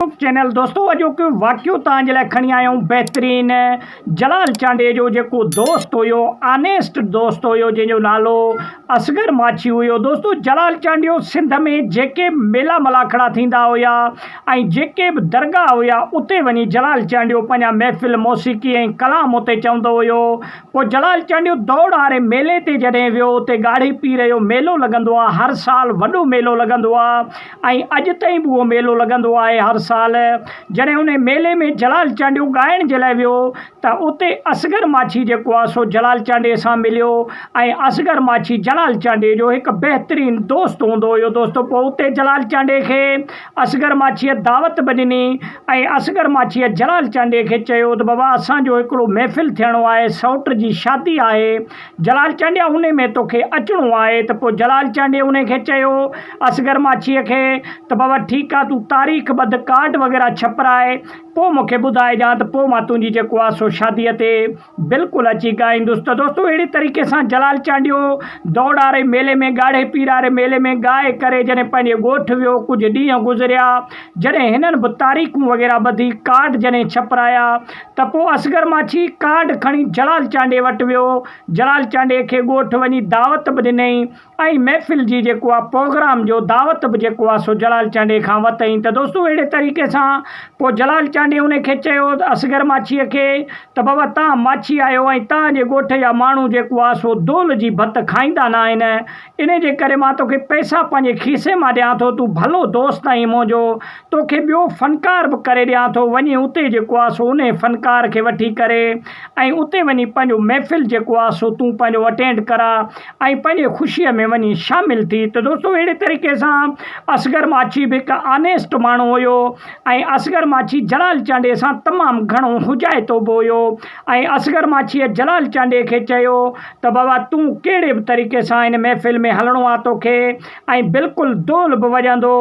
Facebook channel دوستو اڄوڪي واقعو توهان جي لاء کڻي آيائون بهترين جلال چانڊئي جو جيڪو دوست هيو آنيسٽ دوست هيو جنهن جو نالو اصغر ماڇي هيو دوستو جلال چانڊيو سنڌ ۾ جيڪي به ميلا ملاکڙا ٿيندا هيا ۽ جيڪي به درگاهه هيا اتي وڃي جلال چانڊيو پنهنجا محفل موسيقي ۽ ڪلام اتي چوندو هيو پوء جلال چانڊيو دوڙ واري ميلي تي جڏهن ويو اتي ڳاڙهي پير جو ميلو لڳندو آهي هر سال وڏو ميلو لڳندو آهي ۽ اڄ تائين به اهو ميلو لڳندو آهي هر سال جڏهن ان ميلي ۾ جلال چانڊيو ڳائڻ جي لاء ويو ته اتي اصغر ماڇي جيڪو آهي سو جلال چانڊي سان مليو ۽ اصغر ماڇي جلال چانڊي جو هڪ بهترين دوست هوندو هيو دوستو پوء اتي جلال چانڊي کي اصغر ماڇيء دعوت به ڏني ۽ اصغر ماڇيء جلال چانڊي کي چيو ته بابا اسان جو هڪڙو محفل ٿيڻو آهي سئوٽ جي شادي آهي جلال چانڊيا انهي ۾ توکي اچڻو آهي ته پوء جلال چانڊيي انهي کي چيو اصغر ماڇيء کي ته بابا ٺيڪ آهي تون تاريخ ٻڌ ڪارڊ وغيره ڇپرائي پوء مون کي ٻڌائجان ته پوء مان تنهنجي جيڪو آهي سو شاديء تي بلڪل اچي ڳائيندس ته دوستو اهڙي طريقي سان جلال چانڊيو دوڙاري ميلي ۾ ڳاڙهي پيراري ميلي ۾ ڳائي ڪري جڏهن پنهنجي ڳوٺ ويو ڪجهه ڏينهن گذريا جڏهن هنن به تاريخون وغيره ٻڌي ڪارڊ جڏهن ڇپرايا ته پوء اصغر ماڇي ڪارڊ کڻي جلال چانڊيي وٽ ويو. جلال چانڊيي کي ڳوٺ وڃي دعوت به ڏنئين ۽ محفل جي جيڪو آ پروگرام جو دعوت به جيڪو آ سو جلال چانڊيي کان وتئين ته دوستو اهڙي طريقي سان پوء جلال چانڊيي انهي کي چيو اصغر ماڇيء کي ته بابا تان ماڇي آهيو ۽ تان جي ڳوٺ جا ماڻهو جيڪو آ سو دول جي ڀت کائيندا نه آهن انهي جي ڪري مان توکي پئسا پنهنجي کيسي مان ڏيان ٿو، تون ڀلو دوست آهين منهنجو، توکي ٻيو فنڪار به ڪري ڏيان ٿو، وڃي اتي جيڪو آهي سو انهي فنڪار کي وٺي ڪري ۽ اتي وڃي پنهنجو محفل جيڪو آهي سو تون پنهنجو اٽينڊ ڪراء ۽ پنهنجي خوشيء ۾ وڃي شامل ٿي ته دوستو اهڙي طريقي سان اصغر ماڇي به هڪ آنيسٽ ماڻهو هيو ۽ اصغر ماڇي جلال چانڊيي سان تمام گهڻو هجائتو به هيو. ۽ اصغر ماڇيء جلال چانڊيي کي چيو ته بابا تون ڪهڙي به طريقي سان هن محفل ۾ هلڻو آ تو کي ۽ بلڪل دول به وڄندو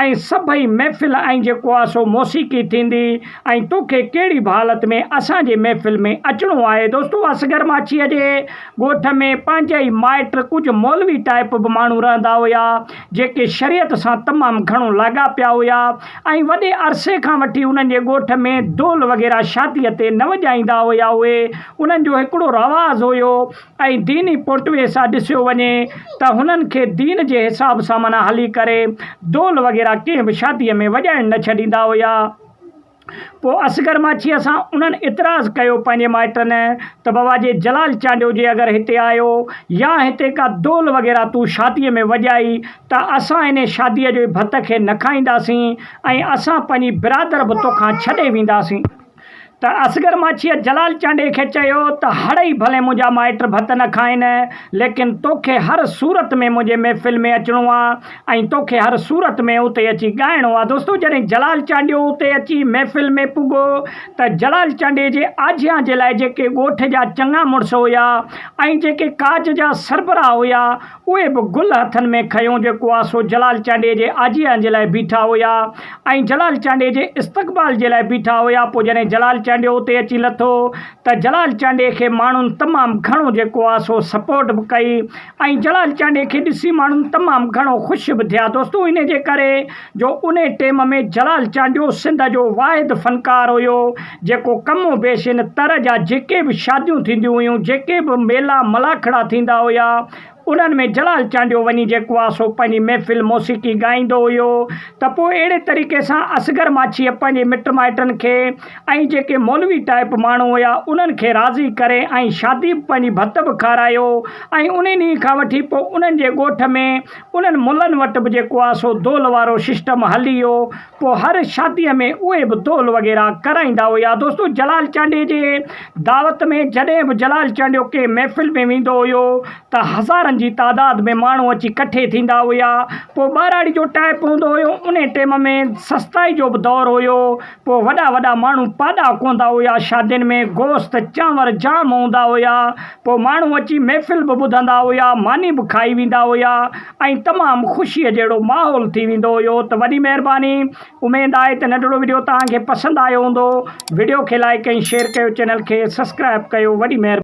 ۽ سڀئي محفل ۽ جيڪو آ سو موسيقي ٿيندي ۽ تو کي ڪهڙي به حالت ۾ اسان جي محفل ۾ اچڻو آهي دوستو اصغر ماڇيء جي ڳوٺ ۾ پنهنجا ئي مائٽ ڪجهه مولوي ٽائپ به ماڻهو رهندا هيا جيڪي شريعت سان تمام گهڻو لاڳاپيا هيا ۽ وڏي عرصي کان وٺي انهن جي ڳوٺ ۾ دول وغيره شاديء تي نه وڄائيندا هيا اهي انهن جو هڪڙو رواز هيو ۽ ديني پوٽوي سان ڏسيو وڃي ته هنن کي دين جي حساب سان معنيٰ هلي ڪري دول وغيره ڪنهن به شاديء ۾ وڄائڻ نه ڇڏيندا هيا. پوء اصغر ماڇيء سان انهن اعتراض ڪيو پنهنجي مائٽن ته بابا جي جلال چانڊيو جي اگر هتي آيو يا هتي ڪا دول وغيره تون شاديء ۾ وڄائي ته اسان انهي شاديء جي ڀت کي نه کائينداسين ۽ اسان پنهنجي برادر به توکان ڇڏي وينداسين. ته اصغر ماڇيء جلال چانڊيي کي چيو ته هڙ ئي ڀلي منهنجا مائٽ ڀت نه کائين ليڪن توکي هر صورت ۾ منهنجي محفل ۾ اچڻو آ. ۽ توکي هر صورت ۾ اتي اچي ڳائڻو آ دوستو جڏهن جلال چانڊيو اتي اچي محفل ۾ پڳو ته جلال چانڊي جي آجيان جي لاء جيڪي ڳوٺ جا چڱا مڙس هيا ۽ جيڪي ڪاج جا سربراهه هيا اهي به گل هٿن ۾ کنيو جيڪو آ سو جلال چانڊي جي آجيان جي لاء بيٺا هيا ۽ جلال چانڊي جي استقبال جي لاء بيٺا هيا پو جڏهن جلال چانڊيو اتي اچي لٿو ته جلال چانڊي کي ماڻهن تمام گهڻو جيڪو آ سو سپورٽ به ڪئي ۽ جلال چانڊيي کي ڏسي ماڻهن تمام گهڻو خوش به ٿيا دوستو انهي جي ڪري جو انهي ٽيم ۾ جلال چانڊيو سنڌ جو واحد فنڪار هيو جيڪو ڪم و بيش هن تر جا جيڪي به شاديون ٿينديون هيون جيڪي به ميلا ملاکڙا ٿيندا هيا انهن ۾ جلال چانڊيو وڃي جيڪو آ سو پنهنجي محفل موسيقي ڳائيندو هيو ته پوء اهڙي طريقي سان اصغر ماڇيء پنهنجي مٽ مائٽن کي ۽ جيڪي مولوي ٽائيپ ماڻهو هيا انهن کي راضي ڪري ۽ شادي به پنهنجي ڀت به کارايو ۽ انهي ڏينهن کان وٺي پوء انهن جي ڳوٺ ۾ انهن ملن وٽ به جيڪو آ سو دول وارو سسٽم هلي ويو پوء هر شادي ۾ اهي به دول وغيره ڪرائيندا هيا دوستو جلال چانڊيي جي دعوت ۾ جڏهن به جلال چانڊيو ڪنهن محفل ۾ ويندو هيو ته هزارن جي تعداد ۾ ماڻهو اچي ڪٺي ٿيندا هيا پوء ٻهراڙي جو ٽائيپ هوندو هيو انهي ٽيم ۾ سستائي جو به دور هيو پوء وڏا وڏا ماڻهو پاڏا ڪوندا هيا، شادين ۾ گوشت چانور جام هوندا هيا، پوء ماڻهو اچي محفل به ٻڌندا هيا، ماني به کائي ويندا هيا ۽ تمام خوشيء جهڙو ماحول ٿي ويندو هيو ته وڏي مهرباني اميد آهي ته ننڍڙو وڊيو توهان کي پسند آيو هوندو وڊيو کي لائيڪ ۽ شيئر ڪيو چينل کي سسڪرائب ڪيو وڏي مهرباني.